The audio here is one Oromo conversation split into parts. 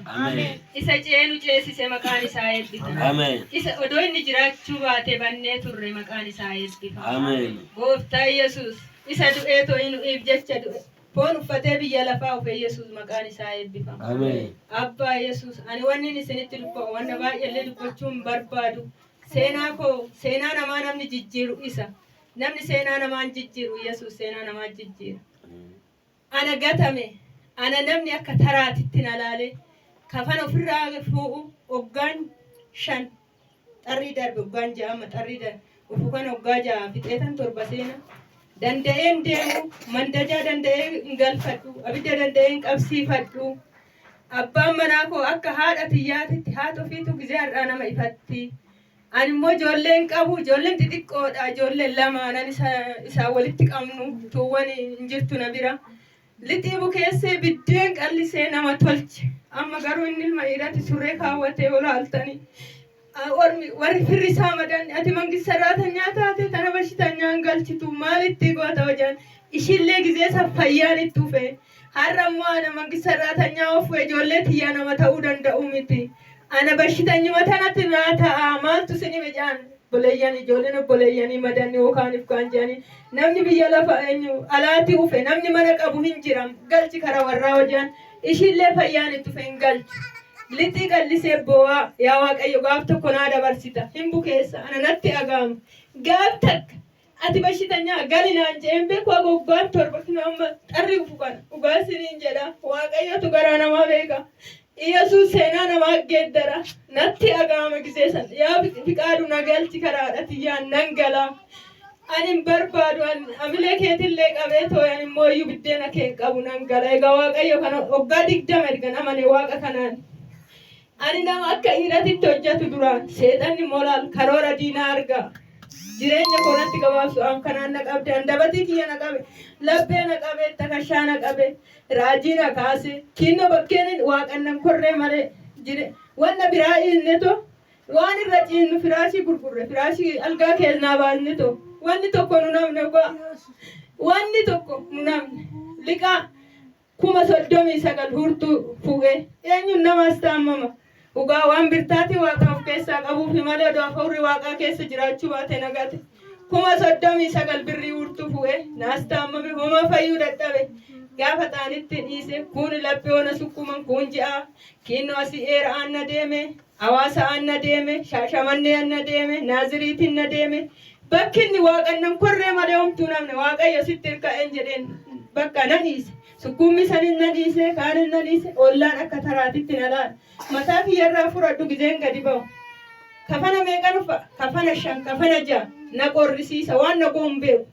Ameen. Isa ce'ee nu ceesise maqaan isaa eebbifame. Ameen. Isa odoo inni jiraachuu baate bannee turre maqaan isaa eebbifame. Ameen. Gooftaa Yesuus isa du'ee to'ii nu'iif jecha du'e. Foon uffatee biyya lafaa dhufe Yesuus maqaan isaa eebbifame. Ameen. Abbaa Yesuus ani wannin isinitti dubba'u wanna baay'eellee dubbachuu hin barbaadu. Seenaa koo seenaa namaa namni jijjiiru isa. Namni seenaa namaan jijjiiru Yesuus seenaa namaa jijjiira. Ana gatame, ana namni akka taraatitti na laalee, kafana ofirraa fuu'u oggaan shan xarrii darbe, oggaan ja'a amma xarrii darbe, ufu kana oggaa ja'a fixeetan torba seena. Danda'ee hin deemu, mandajaa danda'ee hin galfadhu, abidda danda'ee hin qabsiifadhu. Abbaan manaa koo akka haadha tiyyaatitti haati ofiitu gizee har'aa nama ifatti. Ani immoo ijoollee hin qabu, ijoolleen xixiqqoodha, ijoolleen lamaan ani isa- isaan walitti qabnu tuuwwan hin jirtu na bira. Lixii bukeessee biddeen qallisee nama tolche. Amma garuu inni ilma dhiiraatti surree kaawwatee yoo laaltani a- ormi warri firri isaa madanni ati mangis sarraatanyaa taate tana bashitanyaan galchitu maal itti goota hojaan ishillee gizee san fayyaan itti ufee Har'a immoo ana mangist sarraatanya ofu ejoollee tiyyaa nama ta'uu danda'uu miti. Ana bashitanyuma tanatu naa ta'a maaltu sin hime jedhaan obboleeyyan ijoolleen obboleeyyanii madanni wokaan ifkaan jedhanii namni biyya lafa eenyu alaati ufe namni mana qabu hin jira galchi kara warraa hojaan ishiillee fayyaan itti ufe hin galchu. Lixii qallisee boo'aa yaa waaqayyo gaaf tokko naa dabarsita hin bukeessa ana natti dhaga'ama gaaf takka Ati bashitanyaa gali naan je'een beeku haga waggaan torba kunoo amma xarri dhufu kana. Dhugaa isiniin jedha Waaqayyotu garaa namaa beeka. Iyyasuus seenaa namaa geeddara. Natti dhaga'ama gizee san. Yaa Fiqaadu na galchi karaa haadha tiyyaan nan gala. Ani hin barbaadu an amilee keetillee qabee tooy ani immoo iyyuu biddeena kee hin qabu nan gala. Egaa Waaqayyo kana waggaa digdama ergan amane Waaqa kanaan. Ani nama akka dhiiratitti hojjatu dura seexanni moral karoora diinaa arga. Jireenya koo natti gabaabsu an kanaan na qabde andabatii kiyya na qabe laphee na qabe takashaa na qabe raajii na kaase kiinno bakkeenin waaqan nan korree male jire wanna biraa iilne to waan irra ciinnu firaashii gurgurre firaashii algaa keelnaa baasne to wanni tokko nun hafne ogaa wanni tokko nun hafne liqaa kuma soddomii sagal huurtuu fuu'e. Eenyuun namaas taammama? Dhugaa waan birtaatii Waaqaa of keessaa qabuufi malee odoo Afaurri Waaqaa keessa jiraachuu baatee nagate. Kuma soddomii sagal birrii huurtuu fuu'e. Naas taammame homaa fayyuu dadhabe. Gaafa xaanitti dhiise kuuni laphee ona sukkuuman kuun ji'aa kiinnoo asii eera aanna deeme. Hawaasa'aan na deeme, Shaashamannee'an na deeme, Naaziriitiin na deeme, bakki inni waaqannan korree malee homtuu hin hafne, Waaqayyo sitti irka'een jedheen bakka na dhiise. Sukkuummii sanin na dhiise, kaanin na dhiise, ollaan akka taraatitti na laala. Mataa kiyya irraa furadhu gizeen gadi ba'u. Kafana meeqan uffa? Kafana shan, kafana ja'a. Na qorrisiisa, waan na go'u hin beeku.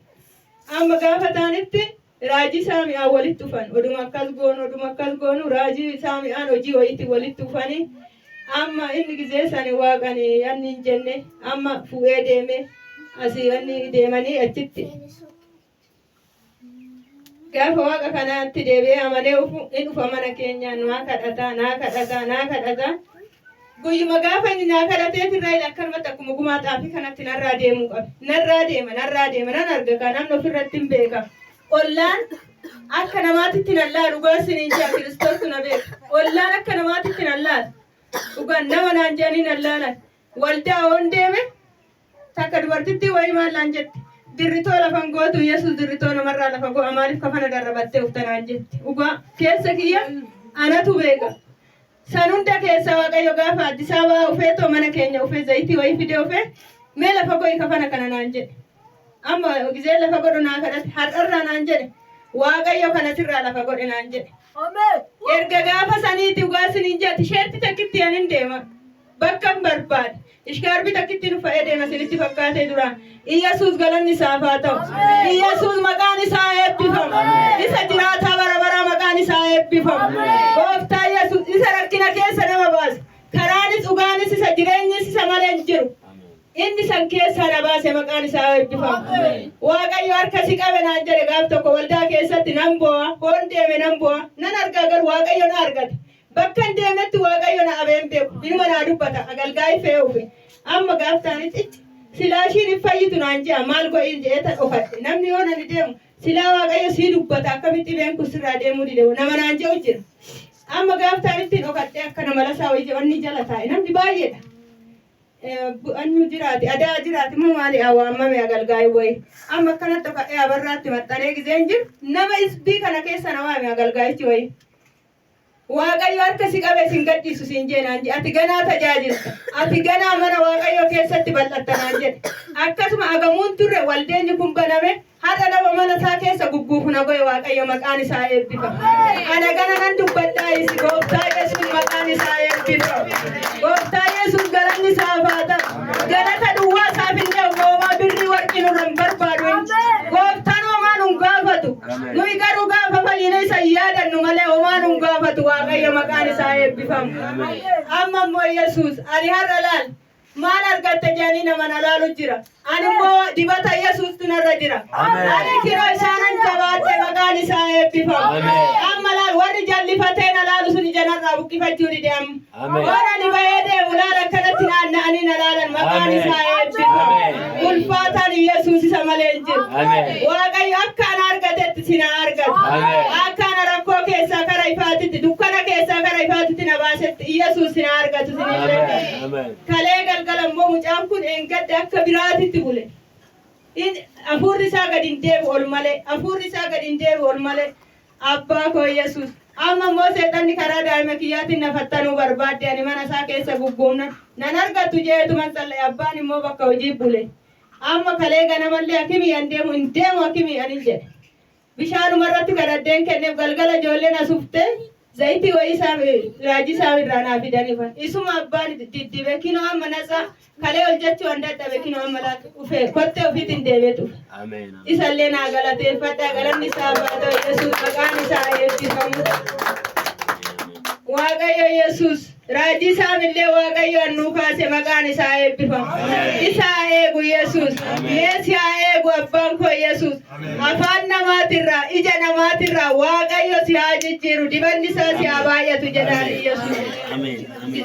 Amma gaafa taanitti Raajii Saami'aan walitti dhufan. Oduma akkas goonu, oduma akkas goonu raajii Saami'aan hojii wayiitti walitti dhufanii amma inni gizee sani waaqani anni hin jenne amma fu'ee deeme asii anni deemanii achitti gaafa waaqa kanaatti deebi'ee amanee ufu in ufa mana keenyaa naa kadhataa naa kadhataa naa kadhataa Guyyuma gaafa inni naa kadhateeti irraa ila akkanumatti akkuma gumaa xaafii kanatti narraa deemuu qabe. Narraa deema, narraa deema, nan arga kaa namni ofirratti hin beeka. Ollaan akka namaatitti nan laalu dhugaa isiniin jaa kiristoostu na beeka. Ollaan akka namaatitti nan laalu. Dhugaan nama naan jedhanii nan laalan. Waldaa oon deeme Takka dubartittii wayii maal naan jette? Dirritoo lafan gootu Yesus dirritoo namarraa lafa go'a maaliif kafana darrabattee ufta naan jette. Dhugaa keessa kiyya anatu beeka. San hunda keessaa Waaqayyo gaafa Addisaa ba'aa ufee too mana keenya ufee zayitii wayii fidee ufee mee lafa go'i kafana kana naan jedhe. Amma gizee lafa godhu naa kadhate har'arraa naan jedhe Waaqayyo kana sirraa lafa godhe naan jedhe. Erga gaafa saniiti dhugaa siniin jedha tisheertii takkitti anin deema. Bakkan barbaade. Ishkaarbi takkittiin uffadhee deema isinitti fakkaatee duraan. Iyyasuus galanni isaaf haa ta'u. Iyyasuus maqaan isaa eebbifamu. Isa jiraataa bara baraa maqaan isaa eebbifamu. Gooftaa Iyyasuus isa rakkina keessa nama baase. Karaanis dhugaanis isa jireenyis isa malee hin jiru. Inni san keessaa na baase maqaan isaa eebbifamu. Waaqayyo harka si qabe naan jedhe gaaf tokko waldaa keessatti nan boo'a. Hoon deeme nan boo'a. Nan argaa garuu Waaqayyo na argate. Bakkan deemetti Waaqayyo na abee hin beeku. Inuma naa dubbata, agalgaayi fe'ee ufe. Amma gaaf taanitti icc! Silaa ishiin hin fayyitu naan je'a, maal go'iin je'eetan ofadhe. Namni yoon ani deemu, Silaa Waaqayyo sii dubbata, akkamitti dhibeen kun sirraa deemuu dide hoo? nama naan je'u jira. Amma gaaf taanitti dhokadhee akkana malasaa wayii je'onni jala taa'e. Namni baay'eedha. Bu'anyu jiraati, adaa jiraati moo maali haa waammame agalgaayi wayii. Amma akkanatti dhokadhee abarraatti maxxanee gizeen jiru, nama isbii kana keessa na waame agalgaayichi wayii. Waaqayyo harka si qabee sin gadhiisu siin jee naan jedhe. Ati ganaa tajaajilta. Ati ganaa mana Waaqayyoo keessatti bal'atta naan jedhe. Akkasuma agamuun turre waldeenyi kun baname har'a nama mana isaa keessa gugguufu na goe Waaqayyo maqaan isaa eebbifamu. Ana gana nan dubbadhaa isi gooftaa Yesuus maqaan isaa eebbifamu. Gooftaa Yesuus galanni isaaf haa ta'u. Galata duwwaa isaaf hin ta'u moomaa birrii warqii nurra hin barbaadu. Gooftaan hoomaa nun gaafatu. Nuyi garuu gaafa fayyine isa hin yaadannu malee homaa nun gaafatu Waaqayyo maqaan isaa eebbifamu. Amma immoo Yesuus ani har'a laal maal argatte jedhanii nama na laalu jira. Ani immoo dibata Yesuustu narra jira. Ani kiroo isaanan jabaadhe maqaan isaa eebbifamu. Amma laal warri jallifatee na laalu sun ija narraa buqqifachuu dide amma. Ameen. Warra ani ba'ee deemu laal akkanatti naanna'anii na laalan maqaan Ameen. isaa eebbifamu. Ameen. Ulfaataan Yesuus isa malee hin jiru. Ameen. Waaqayyo akka ana argatetti si na argate. Ameen. Akka ana rakkoo keessaa kara ifaatitti, dukkana keessaa kara ifaatitti na baasetti Yesuus si na argatu sin hin Ameen. beeku. Ameen. Kalee galgala immoo mucaan kun eengadda akka biraatitti bule. In- Hafuurri isaa gadi hin deebi'u ol malee. Hafuurri isaa gadi hin deebi'u ol malee. Abbaa koo Yesuus! Amma immoo seexanni karaa daa'ima kiyyaatiin na fattanuu barbaadde, ani mana isaa keessa gugguufnan nan argattu je'eetuman tsal'aye, abbaan immoo bakka hojii bule. Amma kalee ganamallee akimii an deemu hin deemu akimii anin jedhe. Bishaanuma irratti kadhadheen kenneef, galgala ijoolleen as uftee zayitii wayii isaa, raajii isaa irraa naa fidaniifan. Isuma abbaan diddibe, kinoo amma natsaa Kalee hojjechuu an dadhabe kinoo amma laata dhufee kottee ofiitiin deemee dhufe. Ameen. ameen. Isallee naa galateeffadha galanni isaa baatoo Yesuus maqaan isaa eebbifamu. Waaqayyo Yesuus raajii isaanillee Waaqayyo annuu kaase maqaan isaa eebbifamu. Isa haa eegu Yesuus. Meesi haa eegu abbaan koo Yesuus. Afaan namaatirraa ija namaatirraa Waaqayyo si haa jijjiiru dibanni isaa si haa baay'atu jedhaan Yesuus. Ameen. Ameen.